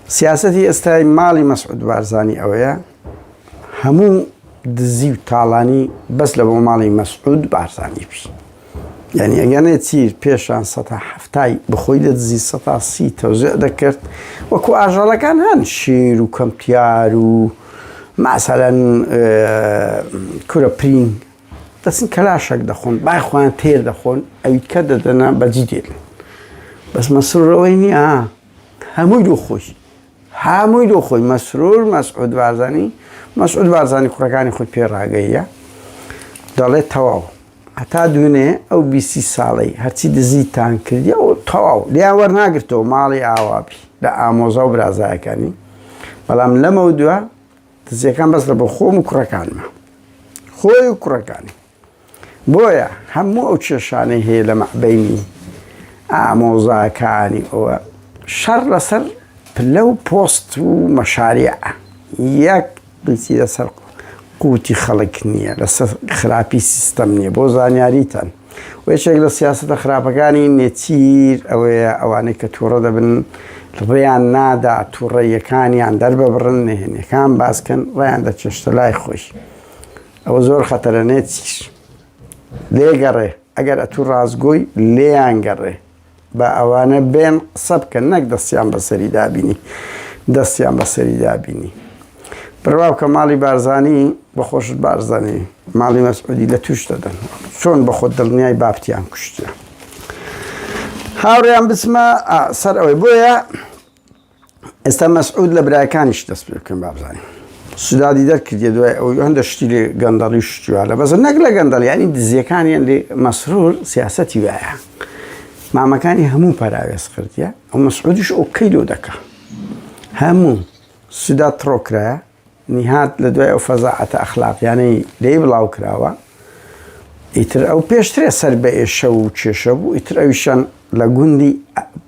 سیاسەتی ئێستای ماڵی مەسعود بارزانی ئەوەیە هەموو دزی و تاڵانی بەس لە بۆ ماڵی مەسعود بارزانی بی یعنی ئەگەنێ چیر پێشان سە هەفتای بخۆی لە دزی سە سی تەوزێ دەکرد وەکو ئاژەڵەکان هەن شیر و کەمتیار و ماسەەن کورە پرینگ دەچن کەلاشەک دەخۆن بای خۆیان تێر دەخۆن ئەویت کە دەدەنا بەجی دێت بەس مەسرورەوەی نییە هەمووی دوو خۆی هەمووی دوو خۆی مەسرور مەسعود بارزانی مەسعود بارزانی کوڕەکانی خۆی پێ ڕاگەیە دەڵێت تەواو هەتا دوێنێ ئەو بیسی ساڵی هەرچی دزیتان کردی ئەو تەواو لیان وەرناگرتەوە ماڵی ئاوابی لە ئامۆزا و برازایەکانی بەڵام لەمە دووە دزیەکان بەس لە بۆ خۆم و کوڕەکانمە خۆی و کوڕەکانی بۆیە هەموو ئەو کێشانەی هەیە لە مەعبەینی ئامۆزاکانی ئەوە شەڕ لەسەر پلە و پۆست و مەشارع یەک بچی لەسەر قوتی خەڵک نییە لەسەر خراپی سیستەم نییە بۆ زانیاریتان و یەکێک لە سیاستە خراپەکانی نێچیر ئەوەیە ئەوانەی کە تووڕە دەبن ڕێیان نادا تووڕەیەکانیان دەرببڕن نهێنەکان باسکەن ڕێیان دەچێشتە لای خۆش ئەوە زۆر خەتەرە نێچیر لێ گەڕێ ئەگەر ئەتوو ڕاستگۆی لێیان گەڕێ بە ئەوانە بێن قسە بکەن نەک دەستیان بەسەری دابینی دەستیان بەسەری دابینی بڕوا کە ماڵی بارزانی بەخۆش بارزانانی ماڵی مەسعودی لە توش دەدەن چۆن بە خۆ دڵنیای بافتیان کوشتە هاوڕیان بچمە سەر ئەوەی بۆیە ئێستا مەسعود لە برایەکانیش دەست پێ بکەن بابزانین سودادی دەرکردێ دوای ئەو هەندە شتی لێ گەندەڵی شتیوانە بەس نەک لە گەندەڵ ینی دزیەکانیان لێ مەسرور سیاستی وایە مامەکانی هەموو پەراوێز کردە ئەو مەسعودیش ئۆکەی لۆ دەکە هەموو سودا تڕۆکرایە نیهاد لە دوای ئەو فەزاعەتە ئەخلاقیانەی لێی بڵاو کراوە ئیتر ئەو پێشترێ سەر بە ئێشە و کێشە بوو ئیتر ئەویشان لە گوندی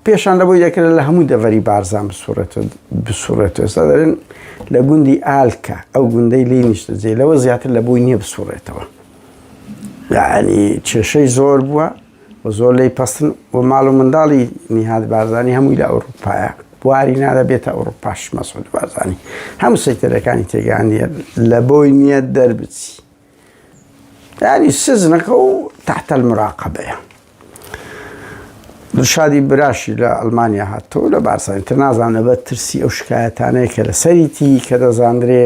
پێشان لە بۆی دەکرێت لە هەموو دەڤەری بارزان بسوڕێتەوە بسوڕێتەوە ئێستا دەرێن لە گوندی ئالکە ئەو گوندەی لی نیشتە جێ لەوە زیاتر لە بۆی نییە بسوڕێتەوە یعنی کێشەی زۆر بووە و زۆر لێی پەستن و ماڵ و منداڵی نیهاد بارزانی هەمووی لە ئەوروپایە بواری نادە بێتە ئەوروپاش مەسعود بارزانی هەموو سەیتەرەکانی تێگانە لە بۆی نییە دەربچی یاری سزنەکە و تحتە المراقبەیە دشادی براشی لە ئەلمانیا هاتوو لە بارسانی تر نازانە بە ترسی ئەو شکایەتانەیە کە لە سەریتی کە دەزانرێ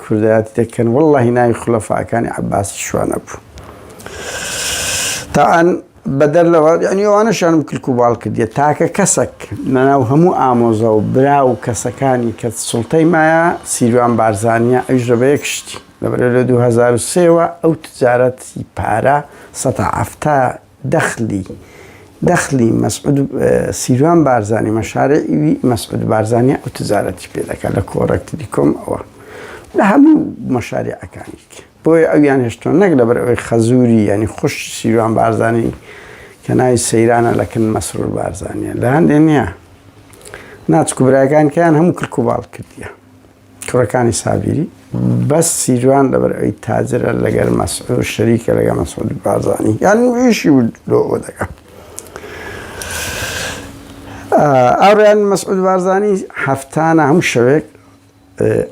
کوردایەتی دەکەن وەللەهی ناوی خولەفاکانی عەباسی شوانە بوو تاعەن بەدەر لەوە یعنی ئەوانەشانم کلک و باڵ کردیە تاکە کەسەک لەناو هەموو ئامۆزە و برا و کەسەکانی کە سڵتەی مایە سیروان بارزانە ئەوش لە بەیەک شتی لەبەر لە 2023ەوە ئەو تجارەتی پارە 1970 دەخلی دەخلی مەسعود سیروان بارزانی مەشارەیوی مەسعود بارزانانی ئەو تجارەتی پێ دەکات لە کۆڕەکتری کۆم ئەوە لە هەموو مەشارەکانی بۆیە ئەویان هێشتۆ نەک لەبەر ئەوی خەزووری ینی خوش سیروان بارزانانی کە ناوی سەیرانە لەکن مەسرور بارزانانیە لە هەندێ نییە ناچکو براکانکەیان هەموو کرک و باڵ کردیە کوڕەکانی سابیری بەس سیروان لەبەر ئەوی تاجرە لەگەر مەسعود شەریکە لەگە مەسعود بازانی یان ویشی لۆوە دەکات ئەوڕیان مەسعود بارزانی هەفتانە هەموو شەوێک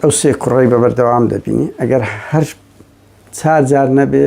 ئەو سێ کوڕی بە بەردەوام دەبینی ئەگەر هەر چار جار نەبێ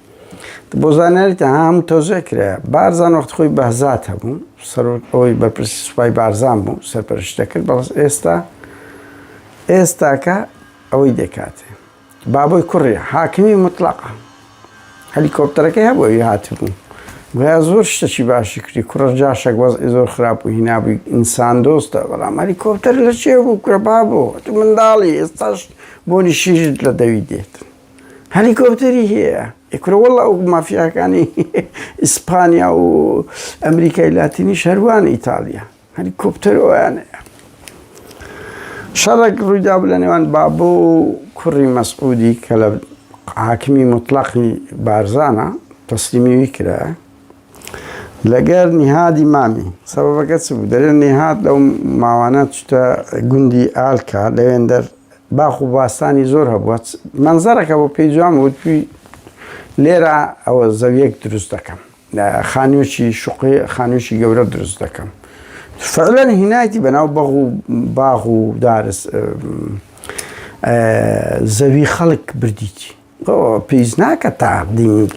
بۆ زانیاریتان هەموو تەوزیع کرایە بارزان وەخت خۆی بەهزات هەبوو سەرۆک ئەوەی بەرپرسی سوپای بارزان بوو سەرپەرشت دەکرد بەڵس ئێستا ئێستاکە ئەوەی دەکاتێ بابۆی کوڕی حاکمی مطلقە هەلیکۆپتەرەکەی هەبوو ئەوی هاتبوو گویا زۆر شتەکی باشی کردی کوڕە جاشێک وەز زۆر خراپ و هینابووی ئینسان دۆستە بەڵام هەلیکۆپتەر لە چێ بوو کوڕە بابۆ تو منداڵی ئێستاش بۆنی شیشت لە دەوی دێت هەلیکۆپتەری هەیە ئەی کورە وەڵا ئەو مافیاکانی ئیسپانیا و ئەمریکای لاتینی شەروان ئیتالیا هەلیکۆپتەر ئەویان هەیە شەڕێک ڕوویدا بوو لە نێوان بابۆ و کوڕی مەسعودی کە لە حاکمی مطلقی بارزانە تەسلیمیوی کرایە لەگەر نیهادی مامی سەبەبەکە چ بوو؟ دەرێن نیهاد لەو ماوانە چتە گوندی ئالکا لەوێندەر باخ و باستانی زۆر هەبووە مەنزەرەکە بۆ پێی جوان وتوی لێرە ئەوە زەویەک دروست دەکەم خانوێکی شوقی خانوێکی گەورە دروست دەکەم فعلەن هینایتی بەناو بەغ و باغ و دارس زەوی خەڵک بردیی تۆ پێویست ناکە تاقدیم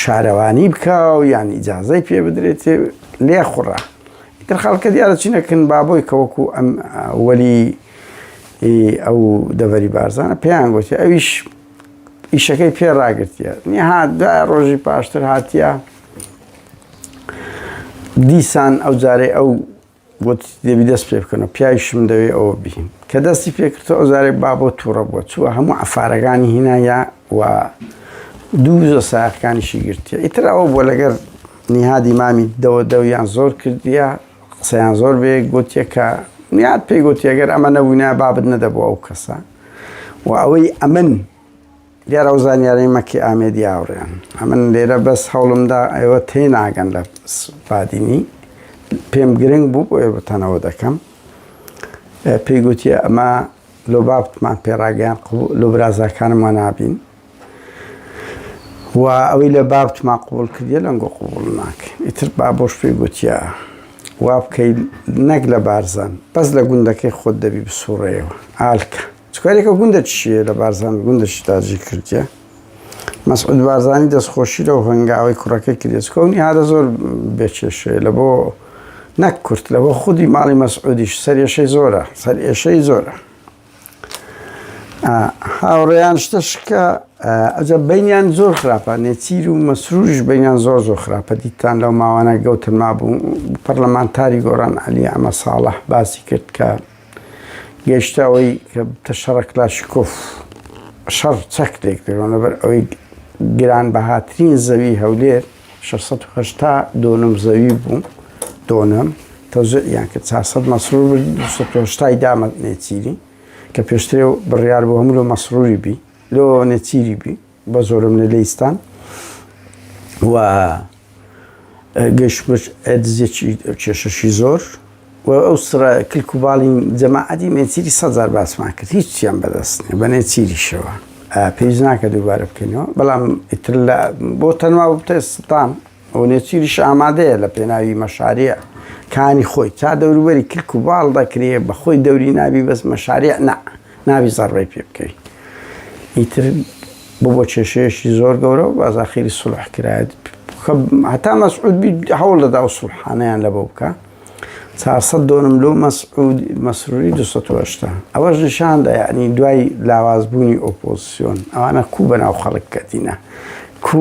شارەوانی بکە و یان ئیجازەی پێ بدرێت لێ خوڕە تر خەڵکە دیارە چینەکن بابۆی کەوەکو ئەم وەلی ئەو دەڤەری بارزانە پێیان گوتی ئەویش ئیشەکەی پێ ڕاگرتیە نیها دا ڕۆژی پاشتر هاتیە دیسان ئەو جارێ ئەو وت، دەبی دەست پێ بکەنەوە، پیاویشم دەوێ ئەوە بهین. کە دەستی پێ کردەوە، ئەوجارەی با بۆ تووڕە بووە، چووە هەموو عەفارەکانی هینایە و دوو زۆ سایەقەکانیشی گرتیە. ئیتر ئەوە بووە لەگەر نیهادی مامی دەوە دەویان زۆر کردیە، قسەیان زۆر بە یەک گۆتیە کە نیهاد پێی گۆتیە گەر ئەمە نەبووینایە بابت نەدەبوو ئەو کەسە و ئەوەی ئەمن، دیارە ئەو زانیارەی مەکی ئامێدی ئاوڕیان ئەمن لێرە بەس هەوڵمدا ئێوە تێ ناگەن لە بادینی پێم گرنگ بوو بۆ ئێوەتانەوە دەکەم پێی گوتیە ئەمە لۆ بابتمان پێڕاگەیان لۆ برازاکانم وە نابین و ئەوەی لە بابتمان قوبول کردە لەنگۆ قوبول ناکە ئیتر با بۆش پێی گوتیە وا بکەیت نەک لە بارزان بەس لە گوندەکەی خۆت دەبی بسوڕەیەوە ئالکە سکوێرەکە گوندە چییە لە بارزان گوندەشی تاجی کردیە مەسعود بارزانی دەستخۆشی لەو هەنگاوەی کوڕەکەی کردیە چکۆ نیهادە زۆر بێکێشەیە لە بۆ نەک کورت لە بۆ خودی ماڵی مەسعودیش سەرێشەی زۆرە سەر ئێشەی زۆرە هاوڕێیان شتە شکە ئەجە بینیان زۆر خراپە نێچیر و مەسروش بینیان زۆر زۆر خراپە دیتان لەو ماوانە گەوتن مابوو پەرلەمانتاری گۆران علی ئەمە ساڵح باسی کرد کە گەیشتە ئەوەی کە ببتە شەڕە کلاشیکۆف، شەڕ چەک لێکدەرەوە، لەبەر ئەوەی گرانبەهاترین زەوی هەولێر شەش سەد و هەشتا دۆنم زەوی بوو، دۆنم، تەوزیعیان کرد، چوار سەد مەسرور بردی، دوو سەد و هەشتای دامە نێچیری، کە پێشترێ بڕیار بوو هەموو لۆ مەسروری بی، لۆ نێچیری بی. بە زۆرم لە لیستان و گەشتمش دزێکی کێشەشی زۆر و ئەو سرە کلک و باڵی جەماعەتی مێچیری سەزار باسمان کرد هیچ چیان بەدەست نیە بە نێچیریشەوە پێویست ناکە دووبارە بکەینەوە بەڵام ئیتر لە بۆ تەنوا بتە ستان و نێچیریش ئامادەیە لە پێناوی مەشاریع کانی خۆی تا دەوروبەری کلک و باڵ دەکرێ بە خۆی دەوری نابی بەس مەشاریع نا نابی زەڕبەی پێ بکەی ئیتر بۆ بۆ کێشەیەشی زۆر گەورە و بازاخیری سڵح کرایت هەتا مەسعود بی هەوڵ دەدا و سڵحانیان لە بۆ بکە چاسە دۆنم لۆ مەسعود مەسروری 1970 ئەوەش نیشاندا یعنی دوای لاوازبوونی ئۆپۆزیسیۆن ئەوانە کو بەناو خەڵک کەتینە کو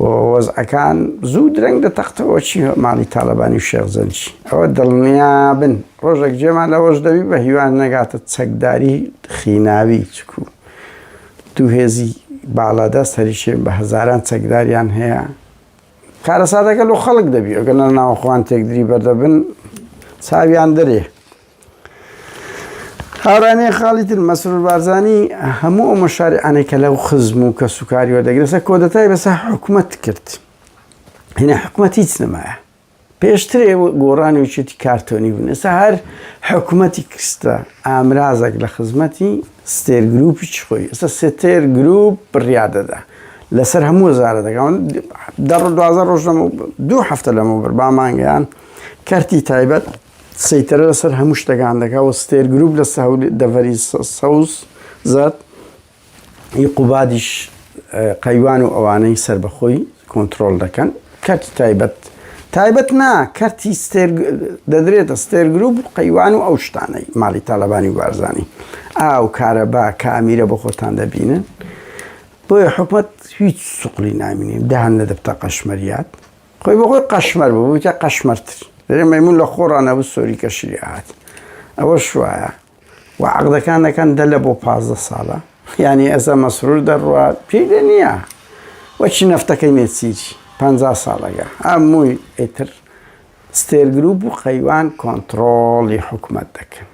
و وەزعەکان زوو درەنگ دەتەقتەوە چی ماڵی تاڵەبانی و شێخ زەنجی ئەوە دڵنیابن ڕۆژێک جێمان لەوەش دەوی بە هیوان نەگاتە چەکداری خیناوی چکو دوو هێزی باڵادەست هەریشێن بە هەزاران چەکداریان هەیە کارەساتەکە لۆ خەڵک دەبی ئەگەنە ناوەخۆوان تێکدری بەردەبن چاویان دەرێ هاورانەیە خاڵی تر، مەسرور بارزانی هەموو ئەو مەشاریعانەی کە لەو خزم و کەسوکاری وەردەگرێسە کۆدەتای بەسە حکومەت کرد هنا حکومەت هیچ نەمایە پێشترێ گۆڕان و چێتی کارتۆنی بوون ئێستا هەر حکومەتی کرستە ئامرازێک لە خزمەتی ستێر گروپی چ خۆی ئێستا ستێر گروپ بڕیادەدا لەسەر هەموو زارە دەگەون دە دوازە ڕۆژ لەمە دوو هەفتە لەمە بەر بامانگەیان کەرتی تایبەت سەیتەرە لەسەر هەموو شتەکان دەکا و ستێر گروپ لە دەڤەری سەوز زات ی قوبادیش قەیوان و ئەوانەی سربەخۆی کۆنتترۆل دەکەن کەرتی تایبەت تایبەت نا کەرتی ستێر دەدرێتە ستێر گروپ و قەیوان و ئەو شتانەی ماڵی تاالبانی و بارزانانی ئاو کارەبا کامیرە بۆ خۆتان دەبینن بۆیە حکومت هیچ سوقلی نامینین داهن لە دەبتە قەشمەریات خۆی بۆ خۆی قەشمەر بوو بوویتە قەشمەرتر لێرە مەمون لە خۆڕا نەبوو سۆری کەشی لێ هات ئەوە شوایە و عقدەکان دەکەن دە لە بۆ پازدە ساڵە یعنی ئەزە مەسرور دەڕوا پێی لێ نییە وەچی نەفتەکەی نێچیری پ ساڵەگە ئەمووی ئیتر ستێر گروپ و قەیوان کۆنتترۆڵی حکومت دەکەن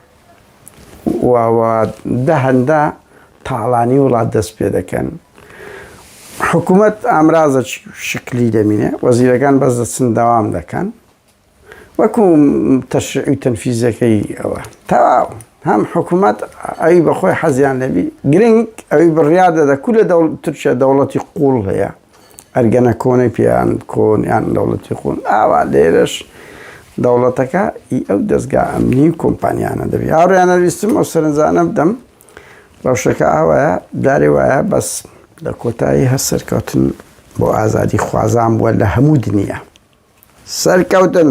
و دە هەندە تاڵانی وڵات دەست پێ دەکەن. حکوومەت ئامرازە شکلی دەمینێ وەزیرەکان بەس دەچن داوام دەکەن وەکو تەشعی و تەنفیزەکەی ئەوە تەواو هەم حکوومەت ئەوی بەخۆی حەزیان لەبی گرنگ ئەوی بڕیادە دەکو لە تورکیا دەوڵەتی قوڵ هەیە ئەرگەنەکۆنی پێیان کۆن یان دەوڵەتی قون ئاوا لێرەش دەوڵەتەکە ئی ئەو دەستگا ئەمنی و کۆمپانیانە دەبێت هاوڕیانە ویستم ئەو سەرنجانە بدەم ڕەوشەکە ئاوایە دارێ وایە بەس لە کۆتایی هەر سەرکەوتن بۆ ئازادی خوازان بووە لە هەموو دنیا سەرکەوتن